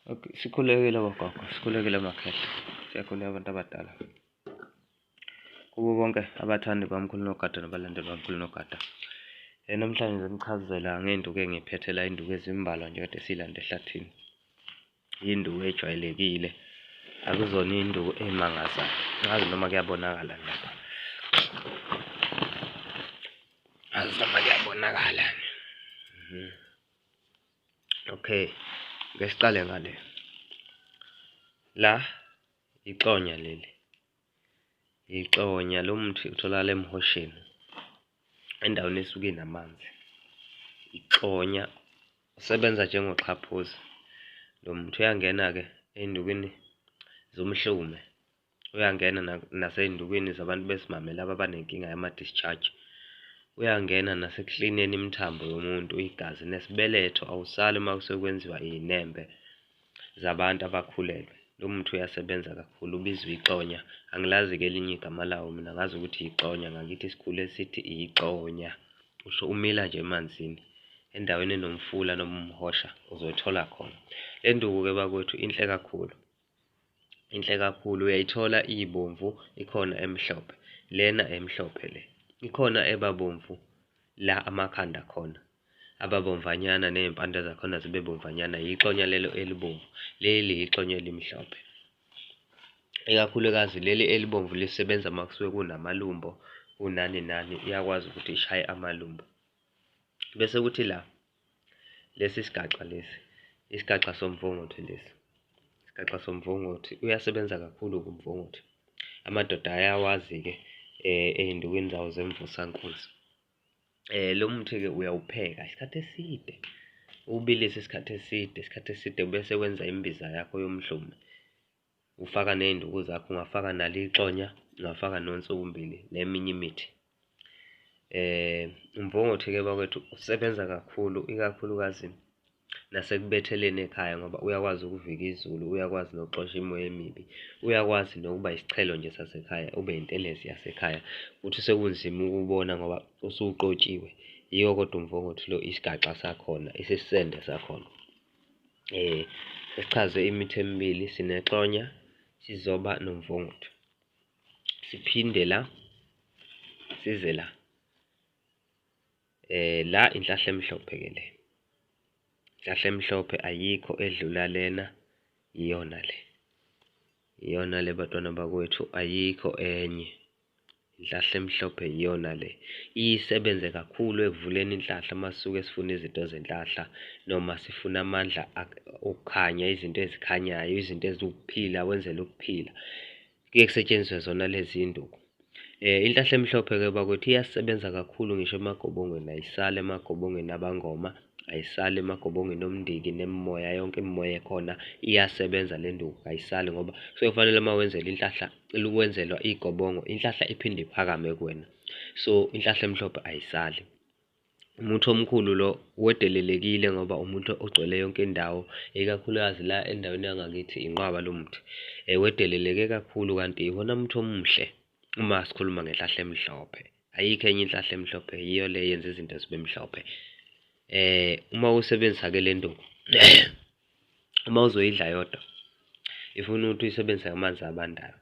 Okay, sikhulekile bogogo, sikhulekile makhehla. Siyakhuleka abantu abadala. Kubo bonke abathandi bamkhulu nogada nabalandeli bamkhulu nogada. Eh namhlanje ngizonichazela ngenduku engiphethela induku ezimbalwa nje kade silanda ehlathini. Induku ejwayelekile. Akuzona induku emangazayo. Ngazi noma kuyabonakala lapha. Ngazi noma kuyabonakala. Mhm. okay ke siqale ngale la ixonya leli ixonya lo muthi utholakala emhosheni endaweni esuke namanzi ixonya usebenza njengoxhaphozi lo muthi uyangena-ke ey'ndukweni zomhlume uyangena nasey'ndukwini zabantu besimame laba abanenkinga yama-discharge, uyangena nasekuklineni imithambo yomuntu, igazi nesibeletho, awusali uma sekwenziwa iy'nembe zabantu abakhulelwe. Lo muthi uyasebenza kakhulu, ubizwa ixonya, angilazi-ke elinye igama lawo mina ngazi ukuthi yixonya, ngakithi sikhule sithi ixonya. Usho umila nje emanzini, endaweni enomfula noma umhosha uzothola khona. Le nduku-ke bakwethu inhle kakhulu, inhle kakhulu uyayithola iyibomvu ikhona emhlophe lena emhlophe le ikhona ebabomvu la amakhanda khona ababomvanyana nezimpande zakhona zibe bomvanyana yixonya lelo elibomvu leli yixonya elimhlophe ikakhulukazi leli elibomvu lisebenza uma kusuke kunamalumbo kunani nani iyakwazi ukuthi ishaye amalumbo bese kuthi la Lesi isigaxa lesi, isigaxa somvunguthi lesi. Isigaxa somvunguthi uyasebenza kakhulu kumvunguthi. Amadoda ayawazi-ke eh ezindukwini zawo zemvusankunzi. Eh lo muthi-ke uyawupheka isikhathi eside. Ubilise isikhathi eside, isikhathi eside bese wenza imbiza yakho yomdluma. Ufaka ney'nduku zakho, ungafaka nalo ixonya, ungafaka nonsukumbili neminye imithi. Um umvongothi-ke bakwethu usebenza kakhulu, ikakhulukazi nasekubetheleni ekhaya ngoba uyakwazi ukuvika izulu, uyakwazi nokuxosha imoya emibi, uyakwazi nokuba isiqhelo nje sasekhaya, ube intelezi yasekhaya. Uthi sekunzima ukuwubona ngoba usuqotshiwe, yiwo kodwa umvongothi lo isigaxa sakhona, isisende sakhona. Eh sesichaze imithi emibili sinexonya sizoba nomvunguthu. Siphinde la size la. Eh la inhlahla emhlophe ke le. Inhlahla emhlophe ayikho edlula lena iyona le. Iyona le batwana bakwethu ayikho enye. Inhlahla emhlophe iyona le. Isebenze kakhulu ekuvuleni inhlahla uma sisuke sifuna izinto zenhlahla noma sifuna amandla okukhanya, izinto ezikhanyayo, izinto eziwukuphila, wenzela ukuphila. Kuye kusetshenziswe zona lezi nduku. Eh, inhlahla emhlophe-ke bakwethu iyasebenza kakhulu ngisho emagobongweni, ayisali emagobongweni abangoma, ayisali emagobongweni omndiki nemimoya, yonke imimoya ekhona iyasebenza le nduku, ayisali ngoba kusuke kufanele uma wenzela inhlahla cela ukwenzelwa igobongo inhlahla iphinde iphakame kuwena so inhlahla emhlophe ayisali umuthi omkhulu lo wedelelekile ngoba umuthi ogcwele yonke indawo ikakhulukazi la endaweni yangakithi inqwaba lo muthi um wedeleleke kakhulu kanti iwona muthi omuhle uma sikhuluma ngenhlahla emhlophe ayikho enye inhlahla emhlophe yiyo le yenza izinto zibe mhlophe um uma usebenzisa-ke le nto uma uzoyidla yodwa ifuna ukuthi uyisebenzise amanzi abandayo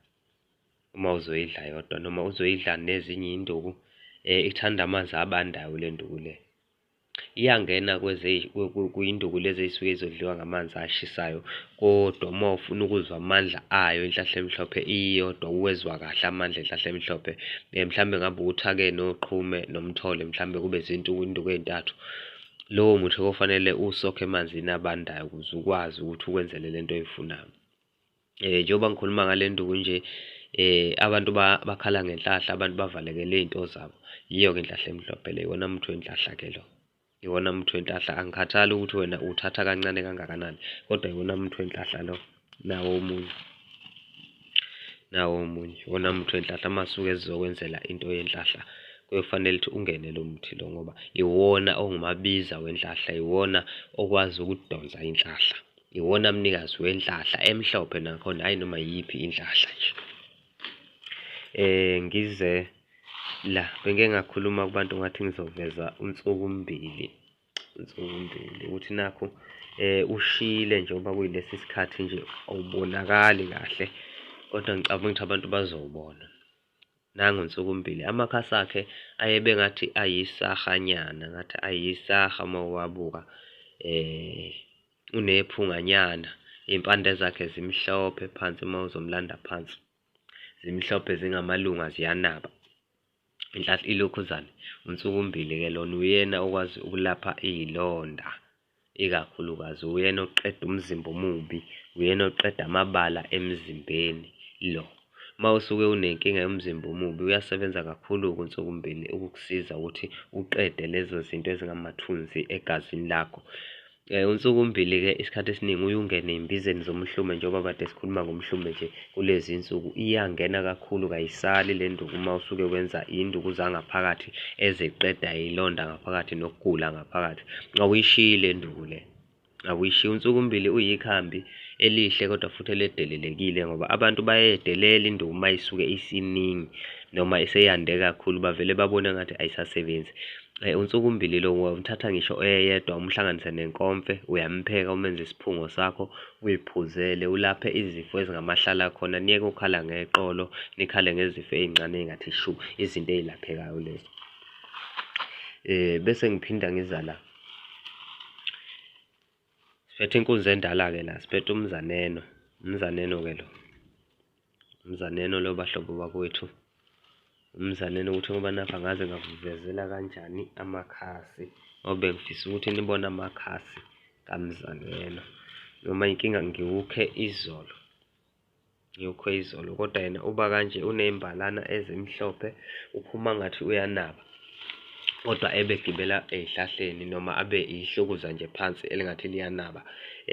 uma uzoyidla yodwa noma uzoyidla nezinye induku eh, ithanda amanzi abandayo le nduku le iyangena kuyinduku lezi ey'suke izodliwa ngamanzi ashisayo kodwa uma ufuna ukuzwa amandla ayo inhlahla emhlophe iyodwa uwezwa kahle amandla enhlahla emhlophe um mhlawumbe ngabe uthake noqhume nomthole mhlawumbe kube zintuku induku ey'ntathu Lowo muthi kofanele usokhe emanzini abandayo ukuze ukwazi ukuthi ukwenzele le nto oyifunayo. Um njengoba ngikhuluma ngale nduku nje um abantu bakhala ngenhlahla abantu bavalekele iy'nto zabo yiyo-ke inhlahla emhlophe le iwona muthi wenhlahla-ke lo iwona muthi wenhlahla angikhathali ukuthi wena uthatha kancane kangakanani kodwa iwona muthi wenhlahla lo nawo omunye nawo omunye wona muthi wenhlahla masuke ezizokwenzela into yenhlahla kuyofanele ukuthi ungene lo muthi lo ngoba iwona ongumabiza wenhlahla iwona okwazi ukudonsa inhlahla iwona mnikazi wenhlahla emhlophe nakhona hayi noma yiphi inhlahla nje eh ngize la bengeke ngakhuluma kubantu ngathi ngizoveza unsuku mbili Nzondile ukuthi nakho eh ushile njengoba kuyilesi sikhathi nje awubonakali kahle kodwa ngicabanga ukuthi abantu bazobona nangu nsukumbili amakhasi akhe ayebe ngathi ayisahanyana ngathi ayisaha uma uwabuka eh unephunganyana impande zakhe zimhlophe phansi uma uzomlanda phansi zimhlophe zingamalunga ziyanaba Inhlahla ilokhuzane, uNsukumbili ke lona uyena okwazi ukulapha iy'londa ikakhulukazi, uyena oqeda umzimba omubi, uyena oqeda amabala emzimbeni lo. Uma usuke unenkinga yomzimba omubi uyasebenza kakhulu-ke uNsukumbili ukukusiza ukuthi uqede lezo zinto ezingamathunzi egazini lakho. Eh, unsuku mbili-ke isikhathi esiningi uyungena ey'mbizeni zomhlume njengoba kade sikhuluma ngomhlume nje kulezi nsuku iyangena kakhulu kayisali le nduku uma usuke wenza induku zangaphakathi eziqeda ilonda ngaphakathi nokugula ngaphakathi awuyishiyi le nduku le awuyishiyi unsuku mbili uyikhambi elihle kodwa futhi eledelelekile ngoba abantu bayedelela induku uma isuke isiningi noma iseyande kakhulu bavele babone ngathi ayisasebenzi eh, unsuku mbili lo umthatha ngisho oyedwa umhlanganise nenkomfe uyampheka umenze isiphungo sakho uyiphuzele ulaphe izifo ezingamahlala khona niyeke ukhala ngeqolo nikhale ngezifo ezincane engathi shu izinto ezilaphekayo lezo eh bese ngiphinda ngiza la siphethe inkunzi endala ke la siphethe umzaneno umzaneno ke lo Mzaneno lo bahlobo bakwethu. Umzaneno ukuthi ngoba nakho angaze ngakuvezela kanjani amakhasi ngoba bengifisa ukuthi nibone amakhasi kamzaneno noma inkinga ngiwukhe izolo ngiwukhe izolo kodwa yena uba kanje unembalana ezimhlophe uphuma ngathi uyanaba kodwa ebegibela ey'hlahleni noma abe ihlukuza nje phansi elingathi liyanaba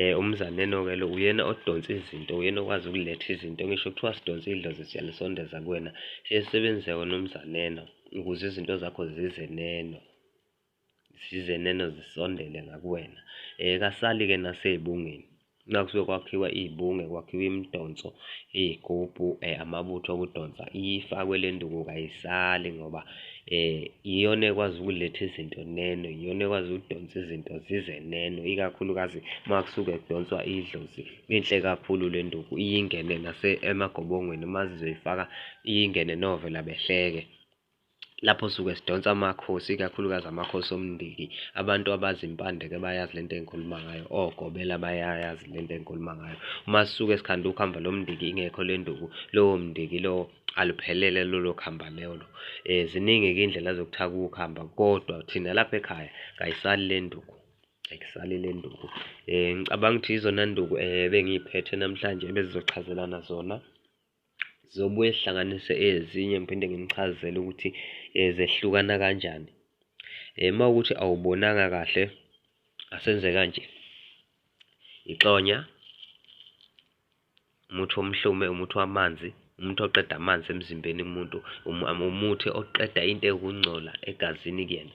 eh umzaneno-ke lo uyena odonsa izinto uyena okwazi ukuletha izinto ngisho kuthiwa sidonsa idlozi siyalisondeza kuwena siyesebenzise wena umzaneno ukuze izinto zakho zize neno zize neno zisondele ngakuwena um kasali-ke nasey'bungeni Nakusuke kwakhiwa iy'bunge, kwakhiwa imidonso, iy'gubhu, amabutho okudonsa, ifakwe le nduku kayisali ngoba iyona ekwazi ukuletha izinto neno, iyona ekwazi ukudonsa izinto zize neno, ikakhulukazi uma kusuke kudonswa idlozi. Inhle kakhulu le nduku, iye ingene emagobongweni uma sizoyifaka iye ingene novela behleke. lapho suke sidonsa amakhosi ikakhulukazi amakhosi omndiki abantu abazi impande ke bayazi lento engikhuluma ngayo ogobela bayayazi lento engikhuluma ngayo uma sisuke sikhanda ukuhamba lo mndiki ingekho le nduku lowo mndiki lowo aluphelele lolo khamba lelo eh ziningi-ke indlela zokuthatha ukuhamba kodwa thina lapha ekhaya kayisali le nduku ayisali le nduku um ngicabanga ukuthi yizona nduku um bengiyiphethe namhlanje ebezizochazelana zona Zizobuye zihlanganise ezinye ngiphinde nginichazele ukuthi eh, zehlukana kanjani. Eh, uma ukuthi awubonanga kahle asenze kanje. Ixonya, umuthi womhlume, umuthi wamanzi, umuthi oqeda amanzi emzimbeni kumuntu, umu- um, umuthi oqeda into ekungcola egazini kuyena.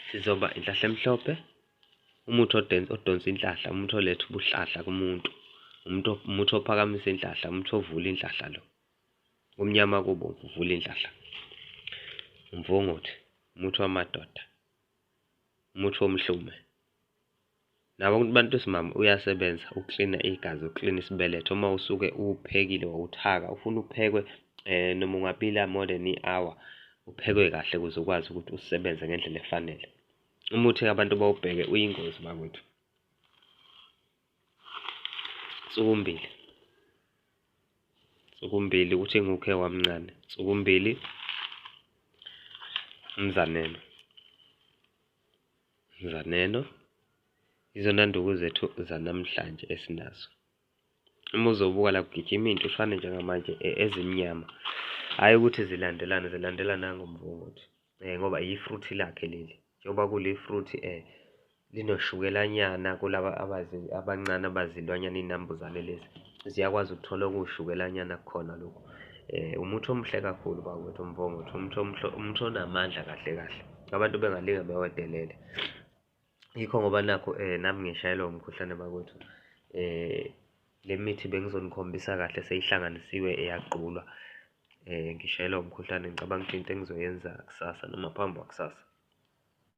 Sizoba inhlahla emhlophe, Umuthi odense odonsa inhlahla, umuthi oletha ubuhlahla kumuntu. Umuntu umuthi ophakamisa inhlahla, umuthi ovula inhlahla lo. Kumnyama kubo uvula inhlahla. Umvunguthi, umuthi wamadoda. Umuthi womhlume. Nabo abantu besimama uyasebenza uklina igazi, uklina isibeletho. Uma usuke uphekile wawuthaka, ufuna uphekwe eh noma ungabila more than i-hour, uphekwe kahle ukuze ukwazi ukuthi usebenze ngendlela efanele. umuthi abantu bawubheke uyingozi bakwethu sukumbili sukumbili ukuthi ngukhe wamncane sukumbili mzaneno mzaneno izona nduku zethu zanamhlanje esinazo uma uzobuka la kugijima into ufane njengamanje e, ezimnyama hhayi ukuthi zilandelane zilandelana ngomvunguthi um ngoba yifruthi lakhe leli njengoba kulifruthi um eh, linoshukelanyana kulaba abancane abazilwanyana iy'nambuzane lezi ziyakwazi ukuthola okuwushukelanyana kukhona lokhu um umuthi omuhle kakhulu bakwethu umvongothi umuthi onamandla kahle kahle abantu bengalinge bewedelele Yikho ngoba nakho um nami ngishayelwa umkhuhlane bakwethu um le mithi bengizonukhombisa kahle seyihlanganisiwe eyagqulwa um ngishayelwa umkhuhlane ngicabanga ukuthi into engizoyenza kusasa noma phambi kwakusasa.